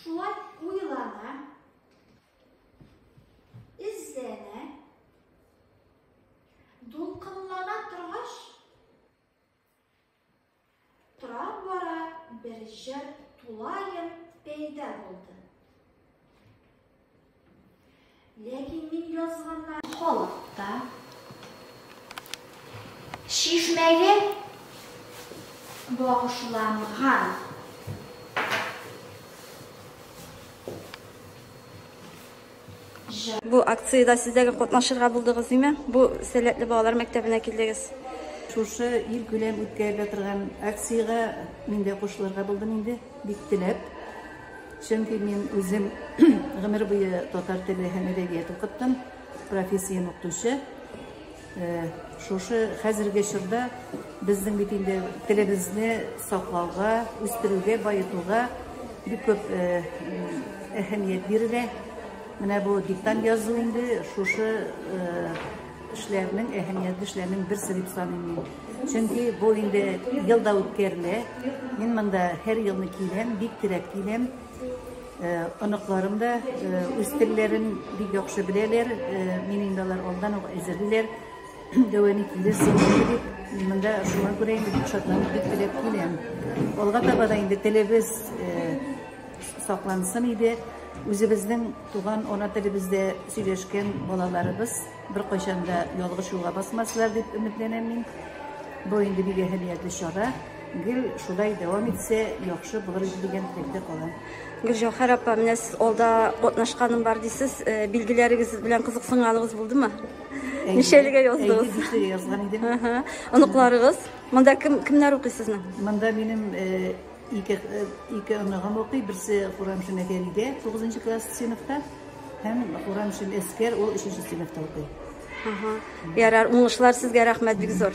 Шулай уйлана, эзләнә, дулкынлана торгач, тора бара бер җыр тулаем пәйда булды. Ләкин мин язганнар халыкта. Шишмәгә багышланган. Бу акциядә сездәге катнашырга булдыгыз диме? Бу сәләтле балалар мәктәбенә килдегез. Шушы ил күләм үткәрелә торган акциягә мин дә кушылырга булдым инде, бик теләп. Чөнки мин үзем гомер буе татар теле һәм әдәбият укыттым, профессиям укытучы. Э, шушы хәзерге чорда безнең бит инде телебезне саклауга, үстерүгә, баетуга бик күп э, әһәмият бирелә. Менә бу диктант язу инде шушы э, Эшләрнең әһәмиятле эшләрнең берсе дип саныйм мин. Чөнки бу инде елда үткәрелә. Мин монда һәр елны киләм, бик теләп киләм. Э, оныкларым да э, үз телләрен бик яхшы беләләр. Э, мин инде алар алдан ук әзерлиләр. Дәвамы килерсең дип монда шуңа күрә инде бик шатланып бик теләп киләм. Алга таба да инде телебез саклансын иде. Үзебезнең Туган ана телебездә сөйләшкән балаларыбыз беркайчан да ялгыш юлга басмаслар дип өметләнәм мин. Бу инде бик әһәмиятле чара. Гел шулай дәвам итсә, яхшы булыр иде дигән теләктә калам. Гөлҗәүһәр апа, менә сез алда катнашканым бар дисез, э, билгеләрегез белән кызыксынганыгыз булдымы? Ничәлегә яздыгыз? Әйе, бишлегә язган идем. Оныкларыгыз? Монда кем кемнәр укый сезнең? Монда минем э, Ике, ике оныгым укый, берсе Курамшин Әгәлидә, 9 класс сыйныфта, һәм Курамшин Әскәр, ул 3 сыйныфта укый. Ага. Ярар, уңышлар сезгә, рәхмәт бик зур.